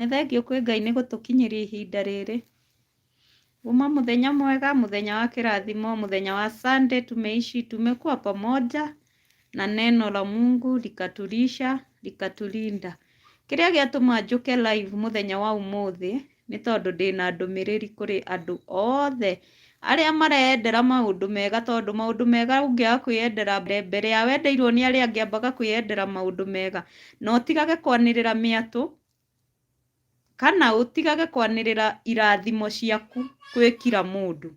Nĩ thengiũ kwĩ Ngai nĩ gũtũkinyĩria ihinda rĩrĩ. Uma mũthenya mwega, mũthenya wa kĩrathimo, mũthenya wa Sunday tumeishi, tumekuwa pamoja na neno la Mungu likatulisha, likatulinda. Kĩrĩa gĩatũma njũke live mũthenya wa ũmũthĩ nĩ tondũ ndĩna ndũmĩrĩri kũrĩ andũ othe arĩa mareyendera maũndũ mega tondũ maũndũ mega ũngĩaga kwĩyendera mbere mbere ya wendeirwo nĩ arĩa angĩ ambaga kwĩyendera maũndũ mega na ũtigage kwanĩrĩra mĩatũ Kana ũtigage kwanĩrĩra irathimo ciaku kwĩ kira mũndũ.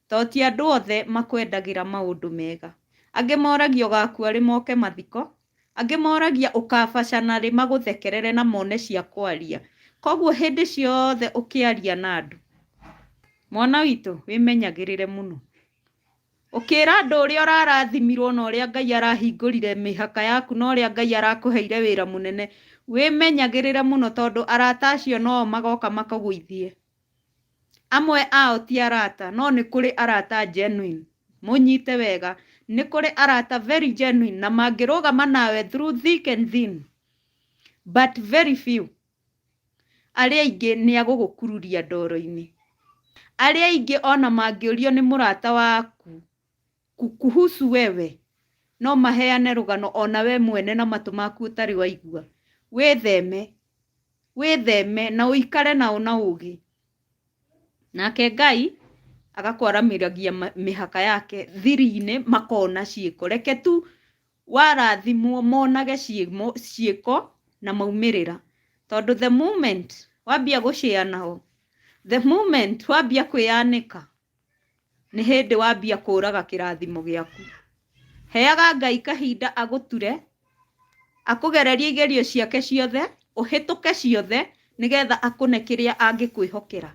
Tondũ ti andũ othe makwendagĩra maũndũ mega. Angĩ moragia ũgakua rĩ moke mathiko, angĩ moragia ũkabacana rĩ magũthekerere na mone cia kwaria. Koguo hĩndĩ ciothe ũkĩaria na andũ, mwana witũ wĩmenyagĩrĩre mũno. Ũkĩra andũ ũrĩa ũrarathimirwo na ũrĩa Ngai arahingũrire mĩhaka yaku na ũrĩa Ngai arakũheire wĩra mũnene. Wĩmenyagĩrĩre mũno tondũ arata acio no o magoka makũgũithie. Amwe ao ti arata, no nĩ kũrĩ arata genuine. Mũnyite wega. Nĩ kũrĩ arata very genuine na mangĩrũgama nawe through thick and thin. But very few. arĩa aingĩ nĩ agũgũkururia ndoro-inĩ arĩa aingĩ ona mangĩũrio nĩ mũrata waku ku- kuhusu wewe no maheane rũgano ona we mwene na matũ maku ũtarĩ waigua wĩtheme wĩtheme na ũikare nao na ũgĩ nake ngai agakwaramĩragia ma- mĩhaka yake thiri-inĩ makona ciĩko reke tu Warathimwo monage ciĩko na maumĩrĩra tondũ the moment wambia gũ share nao, the moment wambia kwĩyanĩka nĩ hĩndĩ wambia kũraga kĩrathimo gĩaku. Heaga Ngai kahinda agũture, akũgererie igerio ciake ciothe, ũhĩtũke ciothe nĩgetha akũne kĩrĩa angĩkwĩhokera.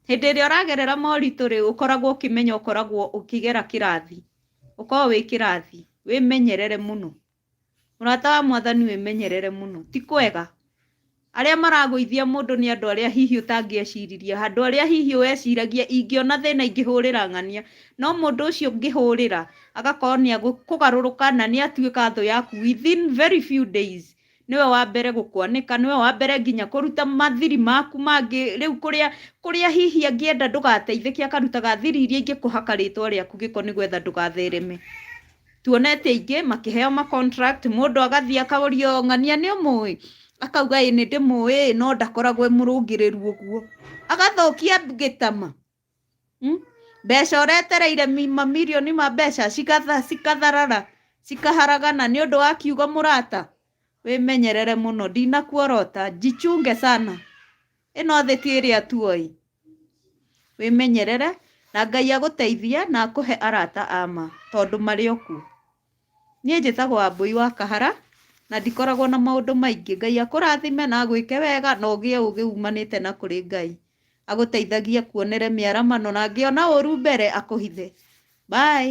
Hĩndĩ ĩrĩa ũragerera moritũ rĩ, ũkoragwo ũkĩmenya ũkoragwo ũkĩgera kĩrathi. ũkorwo wĩ kĩrathi wĩmenyerere mũno mũrata wa mwathani wĩmenyerere mũno ti kwega arĩa maragũithia mũndũ nĩ andũ arĩa hihi ũtangĩeciririe handũ arĩa hihi weciragia ingĩona thĩna ingĩhũrĩra ng'ania no mũndũ ũcio ngĩhũrĩra agakorwo nĩ kũgarũrũka na nĩ atuĩka thũ yaku within very few days nĩwe wa mbere gũkwanĩka nĩwe wa mbere nginya kũruta mathiri maku mangĩ rĩu kũrĩa kũrĩa hihi angĩenda ndũgateithĩke akarutaga thiri iria ingĩ kũhaka rĩtwa rĩaku gĩko nĩgetha ndũgathereme tuonete aingĩ makĩheo ma contract mũndũ agathiĩ akaũrio ng'ania nĩ ũmũĩ akauga ĩ nĩ ndĩmũĩ no ndakoragwo e mũrũngĩrĩru ũguo agathũkia gĩtama Hmm? mbeca ũretereire mamirioni ma mbeca cikatharara cikaharagana nĩ ũndũ wa kiugo mũrata wĩmenyerere mũno ndinakuorota njichunge sana ĩno thĩ ti ĩrĩa tuoi wĩmenyerere na ngai agũteithie na akũhe arata ama tondũ marĩ okuo Niĩ njĩtagwo Wambũi wa Kahara, na ndikoragwo na maũndũ maingĩ. Ngai akũrathime na agwĩke wega na ũgĩe ũgĩ umanĩte na kũrĩ Ngai. Agũteithagie akuonere mĩaramano na angĩona ũru mbere akũhithe. Bye.